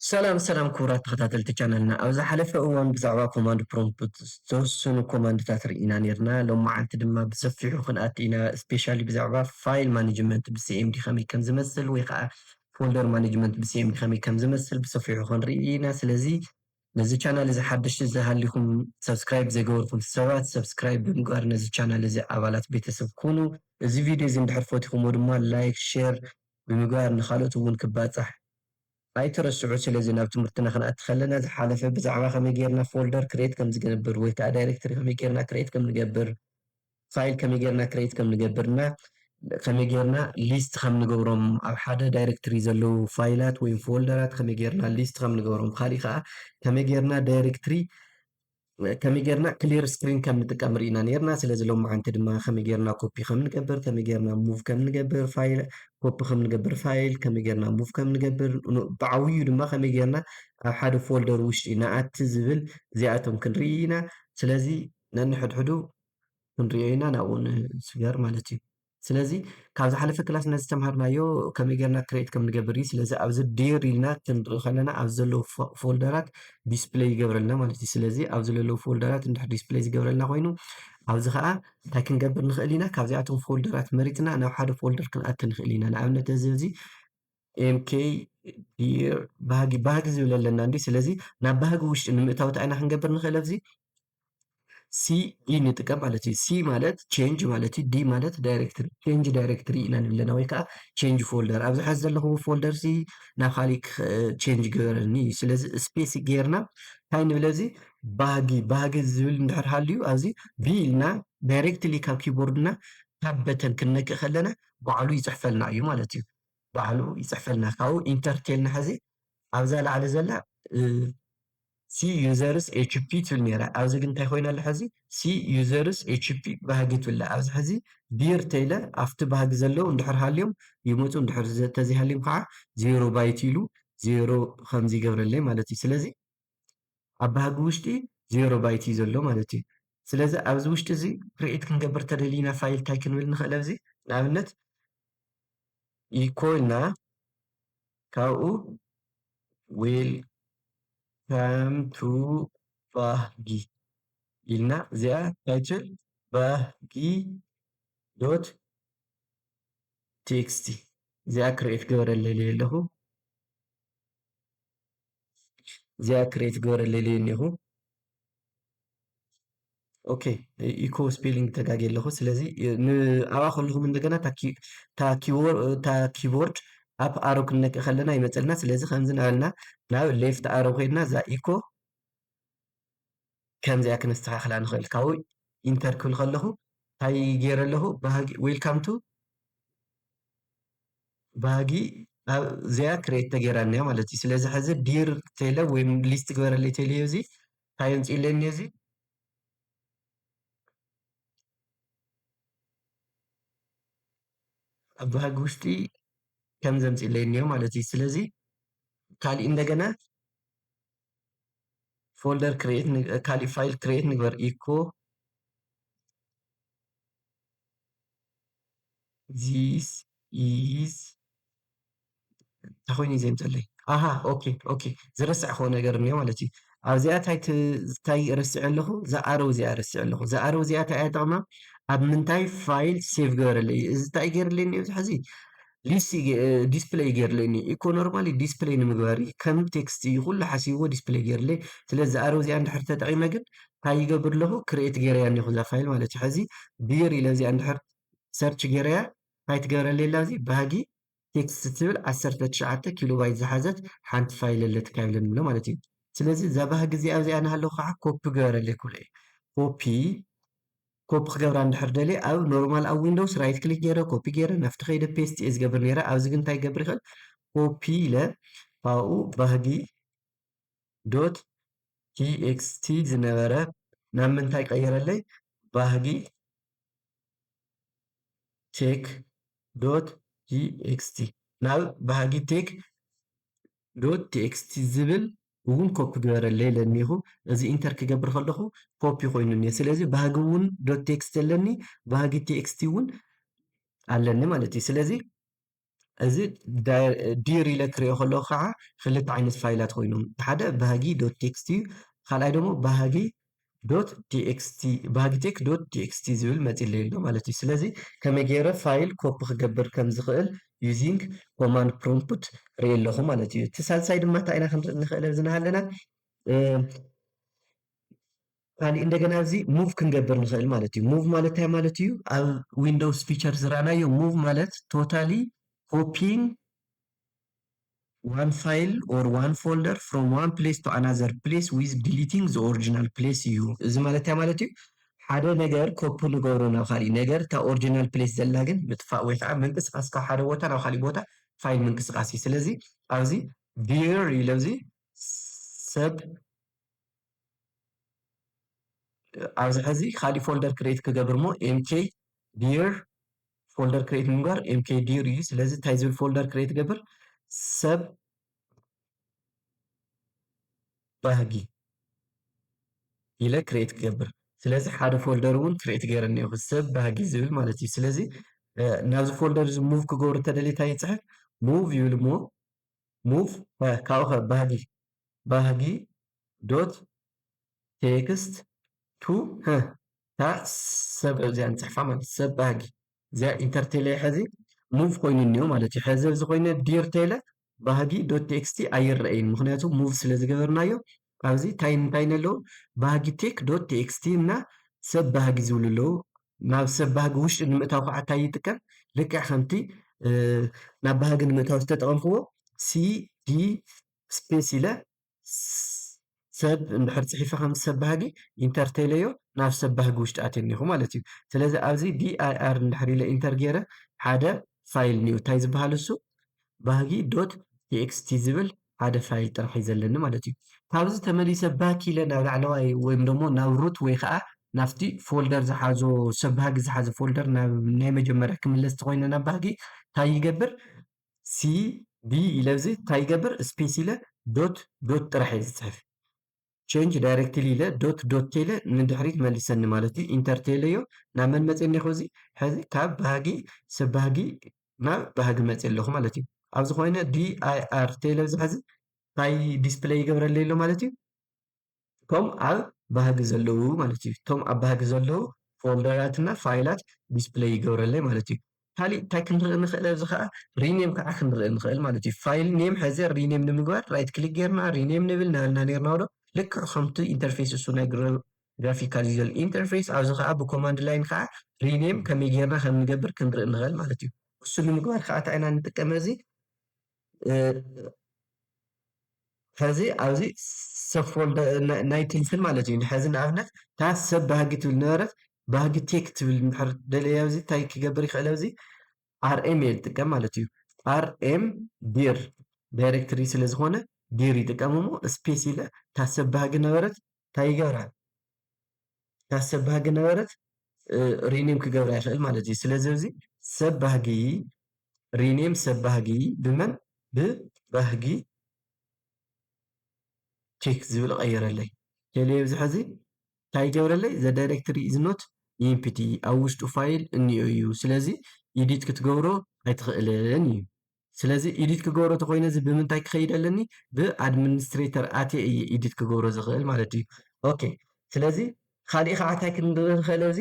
ሰላም ሰላም ክቡራት ተኸታተልቲ ቻናልና ኣብ ዝሓለፈ እዋን ብዛዕባ ኮማንድ ፕሮምፕት ዝተወሰኑ ኮማንድታት ርኢና ነይርና ሎማዓንቲ ድማ ብሰፊሑ ክንኣቲ ኢና ስፔሻሊ ብዛዕባ ፋይል ማኔጅመንት ብሲኤምዲ ከመይ ከም ዝመስል ወይ ከዓ ፎልደር ማኔጅመንት ብሲኤምዲ ከመይ ከም ዝመስል ብሰፊሑ ክንርኢ ኢና ስለዚ ነዚ ቻናል እዚ ሓደሽቲ ዝሃሊኹም ሳብስክራይብ ዘይገበርኹም ሰባት ሳብስክራይብ ብምግባር ነዚ ቻናል እዚ ኣባላት ቤተሰብ ኩኑ። እዚ ቪድዮ እዚ እንድሕር ፈቲኹሞ ድማ ላይክ ሼር ብምግባር ንኻልኦት እውን ክባፃሕ ኣይትረስዑ። ስለዚ ናብ ትምህርትና ክንኣቲ ከለና ዝሓለፈ ብዛዕባ ከመይ ገይርና ፎልደር ክርኤት ከምዝግንብር ወይ ከዓ ዳይሬክተሪ ከመይ ገይርና ክርኤት ከምንገብር ፋይል ከመይ ጌርና ክሬት ከም ንገብር እና ከመይ ጌርና ሊስት ከም ንገብሮም ኣብ ሓደ ዳይሬክትሪ ዘለዉ ፋይላት ወይም ፎልደራት ከመይ ጌርና ሊስት ከም ንገብሮም ብካሊእ ከዓ ከመይ ጌርና ዳይሬክትሪ ከመይ ጌርና ክሊር ስክሪን ከም ንጥቀም ርኢና ነርና ስለዚ ሎም መዓንቲ ድማ ከመይ ጌርና ኮፒ ከም ንገብር ከመይ ጌርና ሙቭ ከም ንገብር ፋይል ኮፒ ከም ንገብር ፋይል ከመይ ጌርና ሙቭ ከም ንገብር ብዓብዩ ድማ ከመይ ጌርና ኣብ ሓደ ፎልደር ውሽጢ ንኣቲ ዝብል እዚኣቶም ክንርኢ ኢና ስለዚ ነንሕድሕዱ ክንሪኦ ኢና ናብኡ ንስገር ማለት እዩ ስለዚ ካብ ዝሓለፈ ክላስ ነዚ ተምሃርናዮ ከመይ ጌርና ክሬት ከም ንገብር እዩ ስለዚ ኣብዚ ዴር ኢልና ክንርኢ ከለና ኣብዚ ዘለዉ ፎልደራት ዲስፕለይ ይገብረልና ማለት እዩ ስለዚ ኣብዚ ዘለዉ ፎልደራት እንድሕር ዲስፕለይ ዝገብረልና ኮይኑ ኣብዚ ከዓ እንታይ ክንገብር ንኽእል ኢና ካብዚኣቶም ፎልደራት መሪፅና ናብ ሓደ ፎልደር ክንኣት ንኽእል ኢና ንኣብነት እዚ እዚ ኤምኬ ዲር ባህጊ ባህጊ ዝብል ኣለና እንዲ ስለዚ ናብ ባህጊ ውሽጢ ንምእታወት ኣይና ክንገብር ንኽእል ኣብዚ ሲ ኢ ንጥቀም ማለት እዩ። ሲ ማለት ቼንጅ ማለት እዩ። ዲ ማለት ዳይሬክትሪ ቼንጅ ዳይሬክትሪ ኢና ንብለና ወይ ከዓ ቼንጅ ፎልደር ኣብዚ ሓዚ ዘለኹዎ ፎልደር ሲ ናብ ካሊእ ቼንጅ ገበረኒ እዩ። ስለዚ ስፔስ ጌርና እንታይ ንብለ እዚ ባህጊ ባህጊ ዝብል እንድሕር ሃልዩ ኣብዚ ቢ ኢልና ዳይሬክትሊ ካብ ኪቦርድና ካብ በተን ክንነክእ ከለና ባዕሉ ይፅሕፈልና እዩ ማለት እዩ። ባዕሉ ይጽሕፈልና ካብኡ ኢንተር ቴልና ሐዚ ኣብዛ ላዕሊ ዘላ ሲ ዩዘርስ ኤችፒ ትብል ነይራ ኣብዚ ግን እንታይ ኮይና ኣላ ሐዚ ሲ ዩዘርስ ኤችፒ ባህጊ ትብል ኣብዚ ሐዚ ቢር ተይለ ኣብቲ ባህጊ ዘለው እንድሕር ሃልዮም ይመፁ እንድሕር ተዘይሃልዮም ከዓ ዜሮ ባይት ኢሉ ዜሮ ከምዚ ይገብረለይ ማለት እዩ ስለዚ ኣብ ባህጊ ውሽጢ ዜሮ ባይት እዩ ዘሎ ማለት እዩ። ስለዚ ኣብዚ ውሽጢ እዚ ክርዒት ክንገብር ተደሊና ፋይል ታይ ክንብል ንኽእል ኣብዚ ንኣብነት ኢኮ ኢልና ካብኡ ዌል ከም ቱ ባህጊ ኢልና እዚኣ ታይትል ባህጊ ዶት ቴክስቲ እዚኣ ክርዒት ገበረ ለለየ ኣለኹ። እዚኣ ክሬት ግበረለይ ኢለዮ እኒኹ ኦኬ ኢኮ ስፔሊንግ ተጋጊ ኣለኹ ስለዚ ኣብኣ ከለኹም እንደገና እታ ኪቦርድ ኣብ ኣሮ ክንነክእ ከለና ይመፀልና ስለዚ ከምዚ ናበልና ናብ ሌፍት ኣሮ ኮይንና እዛ ኢኮ ከምዚኣ ክነስተካክላ ንክእል ካብኡ ኢንተር ክብል ከለኩ እንታይ ገይረ ኣለኩ ባህጊ ዌልካም ቱ ባህጊ ኣብዚኣ ክሬት ተገይራ እኒኣ ማለት እዩ ስለዚ ሕዚ ዲር ቴለ ወይ ሊስት ግበረለይ ቴለ እዩ እዚ እንታይ የምፅእለኒ እዚ ኣብ ባህጊ ውሽጢ ከም ዘምፅእለይ እኒኦ ማለት እዩ ስለዚ ካልእ እንደገና ፎልደር ክሬት ካሊእ ፋይል ክሬት ንግበር ኢኮ ዚስ ኢዝ እንታይ ኮይኑ እዩ ዘምፀለይ ኣሃ ኦኬ ኦኬ ዝረሳዕክዎ ነገር እኒኦ ማለት እዩ ኣብዚኣ እንታይ እንታይ ረሲዐ ኣለኹ እዛ ኣረው እዚኣ ረሲዐ ኣለኹ እዛ ኣረው እዚኣ እንታይ እያ ጥቕማ ኣብ ምንታይ ፋይል ሴቭ ገበረለይ እዚ እንታይ ገይርለይ እኒኦ ዝሕዚ ሊስት ዲስፕለይ ገይርለይ እኒ ኢኮ ኖርማሊ ዲስፕለይ ንምግባር እዩ ከም ቴክስት እዩ ኩሉ ሓሲብዎ ዲስፕለይ ገይርለይ ስለዚ ኣረው እዚኣ እንድሕር ተጠቂመ ግን እንታይ ይገብር ኣለኹ ክሬት ገይረያ እኒኹ እዛ ፋይል ማለት እዩ ሕዚ ብር ኢለ እዚኣ እንድሕር ሰርች ገይረያ እንታይ ትገብረለይ ኣላ እዚ ባህጊ ቴክስት ትብል 19 ኪሎ ባይት ዝሓዘት ሓንቲ ፋይል ኣለቲ ካይለ ንብሎ ማለት እዩ ስለዚ እዛ ባህጊ እዚኣ እዚኣ ናሃለኹ ከዓ ኮፒ ገበረለይ ክብሎ እዩ ኮፒ ኮፒ ክገብራ እንድሕር ደልየ ኣብ ኖርማል ኣብ ዊንዶውስ ራይት ክሊክ ገይረ ኮፒ ገይረ ናብቲ ከይደ ፔስት እየ ዝገብር ነይረ ኣብዚ ግን እንታይ ገብር ይኽእል ኮፒ ኢለ ካብኡ ባህጊ ዶት ቲኤክስቲ ዝነበረ ናብ ምንታይ ቀይረለይ ባህጊ ቴክ ዶት ቲኤክስቲ ናብ ባህጊ ቴክ ዶት ቲኤክስቲ ዝብል እውን ኮፒ ግበረለይ ኢለኒኹ እዚ ኢንተር ክገብር ከለኹ ኮፒ ኮይኑ እኒሀ ስለዚ ባህጊ እውን ዶት ቲኤክስቲ ኣለኒ ባህጊ ቲኤክስቲ እውን ኣለኒ ማለት እዩ ስለዚ እዚ ዲር ኢለ ክሪኦ ከለኹ ከዓ ክልተ ዓይነት ፋይላት ኮይኖም ሓደ ባህጊ ዶት ቲኤክስቲ እዩ ካልኣይ ደግሞ ባህጊ ዶት txt Bagitech ዶት txt ዝብል መጺለይ ኣሎ ማለት እዩ ስለዚ ከመይ ገይረ ፋይል ኮፒ ክገብር ከም ዝኽእል using command prompt ርኢ ኣለኹ ማለት እዩ እቲ ሳልሳይ ድማ እንታይ ኢና ክንርኢ ንኽእል ኣብዚ ናሃለና ካልእ እንደገና እዚ ሙቭ ክንገብር ንኽእል ማለት እዩ ሙቭ ማለት እንታይ ማለት እዩ ኣብ ዊንዶውስ ፊቸር ዝረኣናዮ ሙቭ ማለት ቶታሊ ኮፒን ዋን ፋይል ኦር ዋን ፎልደር ፍሮም ዋን ፕሌስ ቱ ኣናዘር ፕሌስ ዊዝ ዲሊቲንግ ዘ ኦሪጂናል ፕሌስ እዩ እዚ ማለት እንታይ ማለት እዩ ሓደ ነገር ኮፒ ንገብሮ ናብ ካሊእ ነገር እታ ኦሪጂናል ፕሌስ ዘላ ግን ምጥፋእ ወይ ከዓ ምንቅስቃስ ካብ ሓደ ቦታ ናብ ካሊእ ቦታ ፋይል ምንቅስቃስ እዩ። ስለዚ ኣብዚ ቪር ኢለ ኣብዚ ሰብ ኣብዚ ሕዚ ካሊእ ፎልደር ክሬት ክገብር እሞ ኤምኬ ዲር ፎልደር ክሬት ንምግባር ኤምኬ ዲር እዩ ስለዚ እንታይ ዝብል ፎልደር ክሬት ገብር ሰብ ባህጊ ኢለ ክሬት ክገብር ስለዚ ሓደ ፎልደር እውን ክሬት ገይረ እኒኦኹ ሰብ ባህጊ ዝብል ማለት እዩ ስለዚ ናብዚ ፎልደር እዚ ሙቭ ክገብሩ ተደልየ እንታይ ይፅሕፍ ሙቭ ይብል እሞ ሙቭ ከ ካብኡኸ ባህጊ ባህጊ ዶት ቴክስት ቱ ህ እታ ሰብ ኣብዚኣ ንጽሕፋ ማለት ሰብ ባህጊ እዚኣ ኢንተር ቴለየ ሐዚ ሙቭ ኮይኑ እኒኦ ማለት እዩ ሐዚ ኣብዚ ኮይነ ዲር ቴለ ባህጊ ዶት ቴክስቲ ኣይረኣይን ምክንያቱ ሙቭ ስለ ዝገበርናዮ ኣብዚ ታይ እንታይ ነለዉ ባህጊ ቴክ ዶት ቴኤክስቲ እና ሰብ ባህጊ ዝብሉ ኣለዉ ናብ ሰብ ባህጊ ውሽጢ ንምእታው ከዓ ታይ ይጥቀም ልክዕ ከምቲ ናብ ባህጊ ንምእታው ዝተጠቀምክዎ ሲዲ ስፔስ ኢለ ሰብ እንድሕር ፅሒፈ ከምዚ ሰብ ባህጊ ኢንተር ተኢለዮ ናብ ሰብ ባህጊ ውሽጢ ኣትየ እኒሀኹ ማለት እዩ ስለዚ ኣብዚ ዲኣይኣር እንድሕር ኢለ ኢንተር ገይረ ሓደ ፋይል እኒኦ ታይ ዝበሃል እሱ ባህጊ ዶት txt ዝብል ሓደ ፋይል ጥራሕ እዩ ዘለኒ ማለት እዩ። ካብዚ ተመሊሰ ባክ ኢለ ናብ ላዕለዋይ ወይም ደሞ ናብ ሩት ወይ ኸዓ ናብቲ ፎልደር ዝሓዞ ሰብ ባህጊ ዝሓዘ ፎልደር ናብ ናይ መጀመርያ ክምለስ ተኾይነ ናብ ባህጊ ታይ ይገብር cd ኢለ እዚ ታይ ይገብር ስፔስ ኢለ ዶት ዶት ጥራሕ እየ ዝፅሕፍ። ቸንጅ ዳይረክትሊ ኢለ ዶት ዶት ተይለ ንድሕሪት መልሰኒ ማለት እዩ ኢንተር ተይለዮ ናብ መን መፅእ እኒኹ እዚ ሕዚ ካብ ባህጊ ሰብ ባህጊ ናብ ባህጊ መፅእ ኣለኹ ማለት እዩ ኣብዚ ኮይነ ዲኣይኣር ተይለ እዚ ሕዚ እንታይ ዲስፕለይ ይገብረለይ ኣሎ ማለት እዩ እቶም ኣብ ባህጊ ዘለዉ ማለት እዩ እቶም ኣብ ባህጊ ዘለዉ ፎልደራትና ፋይላት ዲስፕለይ ይገብረለይ ማለት እዩ ካሊእ እንታይ ክንርኢ ንኽእል ኣብዚ ከዓ ሪኔም ከዓ ክንርኢ ንኽእል ማለት እዩ ፋይል ኔም ሕዚ ሪኔም ንምግባር ራይት ክሊክ ጌርና ሪኔም ንብል ናበልና ኔርና ዶ ልክዕ ከምቲ ኢንተርፌስ እሱ ናይ ግራፊካል ዩዘር ኢንተርፌስ ኣብዚ ከዓ ብኮማንድ ላይን ከዓ ሪኔም ከመይ ጌርና ከም ንገብር ክንርኢ ንኽእል ማለት እዩ እሱ ንምግባር ከዓ እንታይ ኢና ንጥቀመ እዚ ሐዚ ኣብዚ ሰብፎልድ ናይ ትልፍን ማለት እዩ ሐዚ ንኣብነት እታ ሰብ ባህጊ ትብል ነበረት ባህጊ ቴክ ትብል ድሕር ደለየ ኣብዚ እንታይ ክገብር ይኽእል ኣብዚ ኣርኤም እየ ዝጥቀም ማለት እዩ ኣርኤም ዲር ዳይሬክትሪ ስለ ዝኾነ ዲር ይጥቀም እሞ ስፔስ ኢለ እታ ሰብ ባህጊ ነበረት ታይ ይገብራ እታ ሰብ ባህጊ ነበረት ሪኔም ክገብራ ይክእል ማለት እዩ ስለዚ ኣብዚ ሰብ ባህጊ ሪኔም ሰብ ባህጊ ብመን ብባህጊ ቼክ ዝብል ቀይረለይ ቴሌ ኣብዚ ሕዚ እንታይ ይገብረለይ ዘ ዳይሬክትሪ ኢዝ ኖት ኢምፕቲ ኣብ ውሽጡ ፋይል እኒኦ እዩ ስለዚ ኢዲት ክትገብሮ ኣይትኽእልን እዩ ስለዚ ኤዲት ክገብሮ ተኮይነ እዚ ብምንታይ ክኸይድ ኣለኒ ብኣድሚኒስትሬተር ኣትየ እየ ኤዲት ክገብሮ ዝኽእል ማለት እዩ ኦኬ ስለዚ ካልእ ከዓ እንታይ ክንርኢ ንኽእል ኣብዚ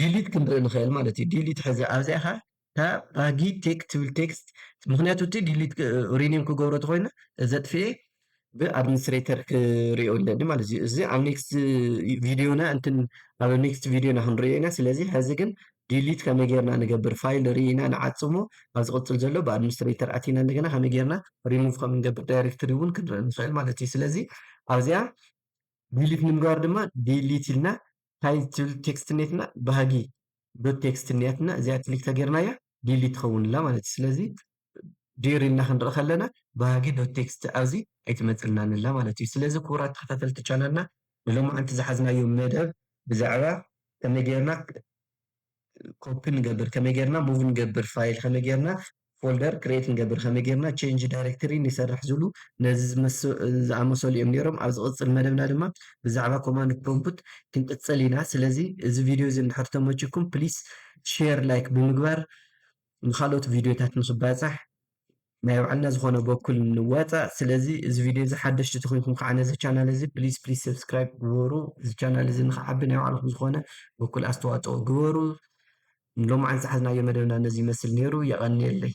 ዲሊት ክንርኢ ንኽእል ማለት እዩ ዲሊት ሕዚ ኣብዚኣ ከዓ እታ ባጊ ቴክ ትብል ቴክስት ምክንያቱ እቲ ዲሊት ሪኒም ክገብሮ ተኮይነ ዘጥፍኤ ብኣድሚኒስትሬተር ክሪኦ ኣለኒ ማለት እዩ እዚ ኣብ ኔክስት ቪድዮና እንትን ኣብ ኔክስት ቪድዮና ክንሪኦ ኢና ስለዚ ሕዚ ግን ዲሊት ከመይ ጌርና ንገብር ፋይል ርኢና ንዓጽሞ ኣብ ዝቕጽል ዘሎ ብኣድሚኒስትሬተር ኣቲና እንደገና ከመይ ጌርና ሪሙቭ ከም ንገብር ዳይሬክትሪ እውን ክንርኢ ንኽእል ማለት እዩ ስለዚ ኣብዚኣ ዲሊት ንምግባር ድማ ዲሊት ኢልና እንታይ ትብል ቴክስት ኔትና ባህጊ ዶት ቴክስት ኔትና እዚኣ ክሊክ ተጌርናያ ዲሊት ትኸውንላ ማለት እዩ ስለዚ ዲር ኢልና ክንርኢ ከለና ባህጊ ዶት ቴክስት ኣብዚ ኣይትመጽልናን ኣላ ማለት እዩ። ስለዚ ክቡራት ተኸታተልቲ ቻናልና ንሎማዓንቲ ዝሓዝናዮ መደብ ብዛዕባ ከመይ ጌርና ኮፒ ንገብር፣ ከመይ ጌርና ሙቭ ንገብር ፋይል፣ ከመይ ጌርና ፎልደር ክሬት ንገብር፣ ከመይ ጌርና ቼንጅ ዳይሬክተሪ ንሰርሕ ዝብሉ ነዚ ዝኣመሰሉ እዮም ነይሮም። ኣብ ዝቕጽል መደብና ድማ ብዛዕባ ኮማንድ ፕሮምፕት ክንቅጽል ኢና። ስለዚ እዚ ቪድዮ እዚ እንድሕር ተመችኩም ፕሊስ ሼር ላይክ ብምግባር ንካልኦት ቪድዮታት ንክባፃሕ ናይ ባዕልና ዝኮነ በኩል ንዋፃእ ስለዚ እዚ ቪድዮ እዚ ሓደሽቲ ተኮንኩም ከዓ ነዚ ቻናል እዚ ፕሊስ ፕሊስ ሰብስክራይብ ግበሩ እዚ ቻናል እዚ ንክዓቢ ናይ ባዕልኩም ዝኮነ በኩል ኣስተዋፅኦ ግበሩ ሎማዓን ዝሓዝናዮ መደብና ነዚ ይመስል ነይሩ የቀንየለይ